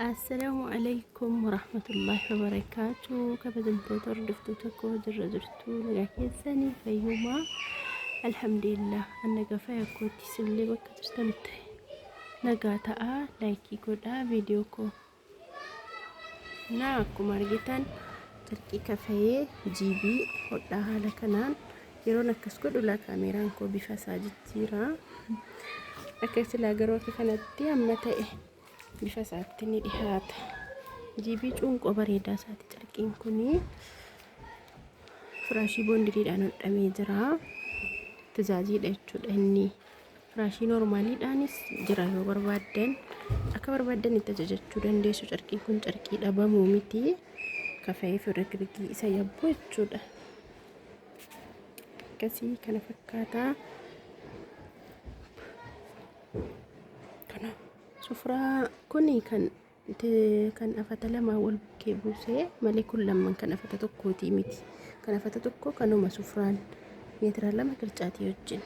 Assalaamu alaikum warahmatullahi wabarakaatu kabajamtoota hordoftoota koo jirra jirtu nagaa keessanii fayyumaa alhamdulillah anna gafaa yakkootti isinillee bakka jirtan ta'e nagaa ta'aa laayikii godhaa viidiyoo koo naa akkuma argitan carqii kafayee jiibii hodhaa haala kanaan yeroon akkas godhu laa kaameeraan koo bifa isaa jijjiira akka silaa garuu akka kanatti amma ta'e bifa isaatti ni dhihaata jiibii cuunqoo bareedaa isaati carqiin kun firaashii boondiriidhaan hodhamee jira tajaajiidha jechuudha inni firaashii normaaliidhaanis jira yoo barbaaddan akka barbaaddan itti ajajachuu dandeessu carqiin kun carqii dhabamuu miti kafa'ee firrigirgii isa yabbu jechuudha akkasii kana fakkaataa kana sufraa kuni kan te- kan afata lamaa wal bukkee buusee malee kun lamman kan afata tokkootii miti kan afata tokko kanuma sufraan meetira lama qircaatii wajjin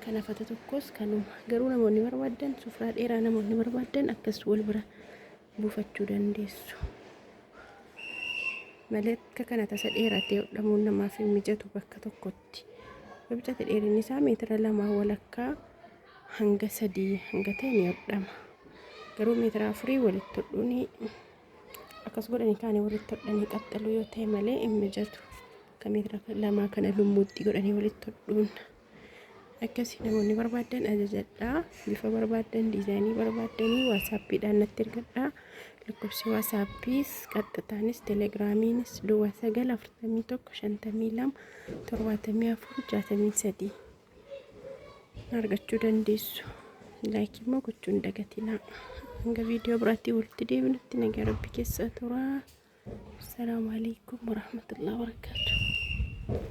kan afata tokkos kanuma garuu namoonni barbaadan sufraa dheeraa namoonni barbaadan akkas wal bira buufachuu dandeessu malee akka kana tasa dheeratee hodhamuun namaaf hin mijatu bakka tokkotti gidduutti wabixati dheerinni isaa meetira lama walakkaa hanga sadii hanga ta'e ni hodhama garuu meetira afurii walitti hodhuun akkas godhanii kaanii walitti hodhanii qaxxaluu yoo ta'e malee hin mijatu akka meetira lamaa kana lummuutti godhanii walitti hodhuun akkasii namoonni barbaadan ajajadhaa bifa barbaadan diizaayinii barbaadanii waasaappiidhaan natti ergadhaa lakkoofsi waasaappiis qaxxataanis telegiraamiinis duwwaa sagal afurtamii tokko shantamii lama torbaatamii afur jaatamii sadii argachuu dandeessu. Laayikii immoo gochuu hin dagatinaa. Hanga viidiyoo biraatti walitti deebinutti nagaa rabbi keessaa tura. Assalaamu alaikum warahmatullahi wabarakatuh.